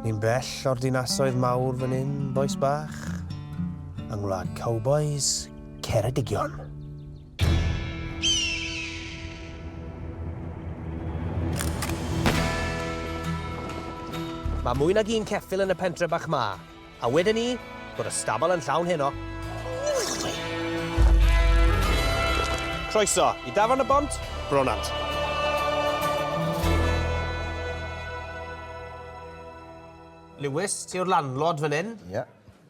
Ni'n bell o'r dinasoedd mawr fan hyn, bois bach, yng ngwlad cowbois Ceredigion. Mae mwy nag un ceffyl yn y pentre bach ma. A weden i, bod y stabal yn llawn heno. Croeso i dafarn y Bont, Bronant. Lewis, ti yw'r landlord fan hyn. Ie.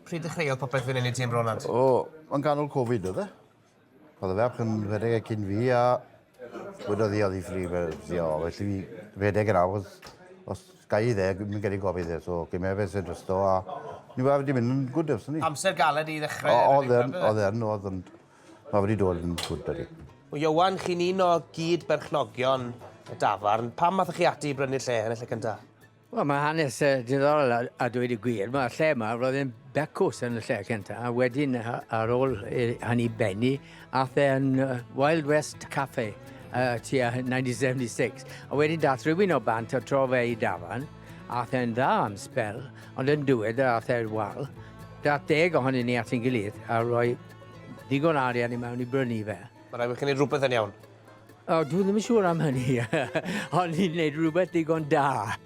Pryd ddechreuodd popeth fan hyn i ti yn Bronant? O, yn ganol Covid oedd e. Oedd y ferch yn rhedeg e cyn fi a wedodd hi oedd hi ffri fyddio, felly fi rhedeg yn awr, os gai i dde, mi'n gyrru gofid dde, so gym efe sy'n drysto a ni wedi di mynd yn gwyd ers ni. Amser galed i ddechrau? O, oedd yn, oedd yn, oedd yn, mae wedi dod yn gwyd da ni. O Ieuan, chi'n un o gyd berchnogion y dafarn, pam athoch chi ati i brynu'r lle yn y lle cyntaf? Wel, mae hanes uh, diddorol a, a dweud y gwir. Mae'r lle yma, roedd e'n becws yn y lle cyntaf, a wedyn ar ôl hynny benni, a the yn Wild West Cafe uh, tua 1976. A wedyn dath rhywun o bant o tro fe i dafan, a the'n dda am spel, ond yn dywed a the'r wal, dath deg ohonyn ni at ein gilydd a roi digon arian i mewn i brynu fe. Mae'n rhaid bod chi'n gwneud rhywbeth yn iawn. O, dwi ddim yn siŵr am hynny. O'n i'n gwneud rhywbeth digon da.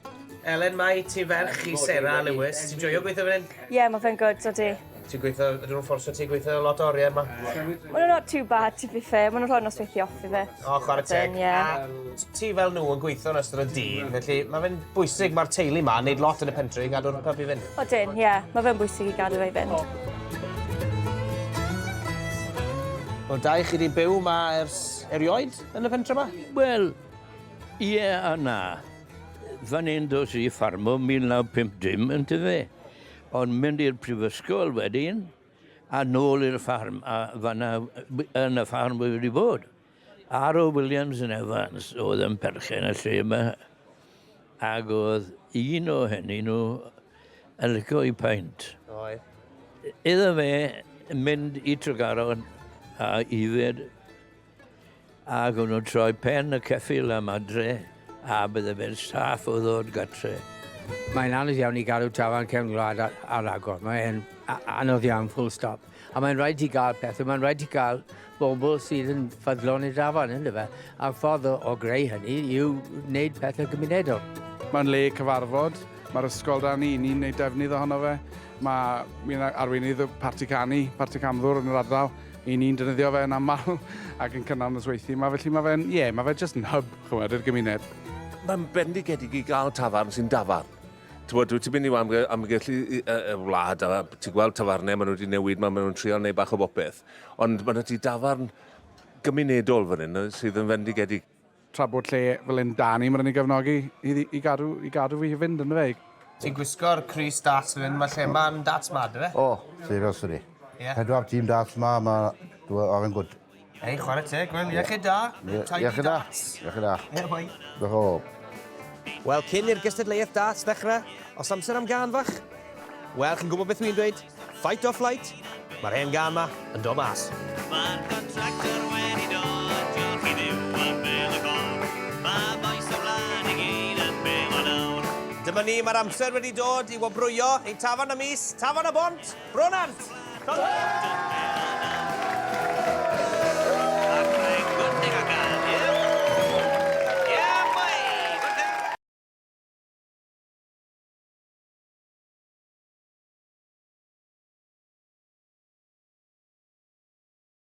Elen, mae ti ferch i Sarah a Lewis. Ti'n joio gweithio fan hyn? Ie, yeah, mae fe'n gwrdd, so di. Ti'n gweithio, ydyn nhw'n fforsio ti gweithio lot o oriau yma? Mae nhw'n not too bad, to be fair. Mae nhw'n rhoi'n nosweithio off i fe. O, chwarae teg. Yeah. Ti fel nhw yn gweithio yn ystod y dydd, felly mae fe'n bwysig, mae'r teulu yma, wneud lot yn y pentri i gadw'r pub i fynd. Odyn, ie. Yeah. Mae fe'n bwysig i gadw fe i fynd. Wel da i chi 'di byw 'ma ers erioed yn y pentre 'ma? Wel, ie a na. Fan 'yn dos i ffarmo 1950 yndyfe? Ond mynd i'r prifysgol wedyn a nôl i'r ffarm a fanna yn y ffarm wi wedi bod. Ar ôl Williams yn Evans oedd yn perchen y lle yma ac oedd un o hynny nhw yn licio i paint. Oedd. Iddo fe mynd i Tregaron a yfed ac o'n nhw'n troi pen y ceffil am adre a bydde fe'n saff o ddod gatre. Mae'n anodd iawn i gadw tafarn cefn gwlad ar agor. Mae'n anodd iawn, full stop. A mae'n rhaid ti gael pethau, mae'n rhaid ti gael bobl sydd yn ffyddlon i'r dafarn, yn dyfe? A'r ffordd o, o greu hynny yw wneud pethau cymunedol. Mae'n le cyfarfod, mae'r ysgol dan ni, ni'n gwneud defnydd ohono fe. Mae, mi'n arweinydd y parti canu, parti camddwr yn yr ardal, i ni'n defnyddio fe yn aml ac yn cynnal nosweithiau yma, felly mae fe'n, ie, yeah, mae fe jyst yn hub, chymod, i'r gymuned. Mae'n bendigedig i gael tafarn sy'n dafarn. Ti'n dwi ti'n mynd i amge, amgylch y, y, y wlad, a ti'n gweld tafarnau, maen nhw wedi newid, maen nhw'n trio neu bach o bopeth. Ond maen nhw wedi dafarn gymunedol fan hyn, sydd yn fendigedig. Tra bod lle fel hyn da ni, mae'n rhaid ni gefnogi i, i, gadw, i gadw fi i fynd yn y fe. Ti'n gwisgo'r Crys Darts fan hyn, mae lle mae'n darts ma, dwi fe? O, oh, sefyl, sori. Yeah. Pedwar tîm darts ma, mae... Dwi'n ofyn gwrdd. Hei, chwarae teg, wel, iechyd da. Iechyd da. Iechyd da. Diolch o. Wel, cyn i'r gystadleuaeth darts ddechrau, os amser am gan fach? Wel, chi'n gwybod beth dwi'n dweud? Fight or flight? Mae'r hen gan ma yn do mas. Mae'r contractor wedi dod, diolch i ddiw ar bel y gol. Mae boes y wlad i gyd yn bel o nawr. Dyma ni, mae'r amser wedi dod i wobrwyo ein tafarn y mis, Tafarn y Bont! Brunant!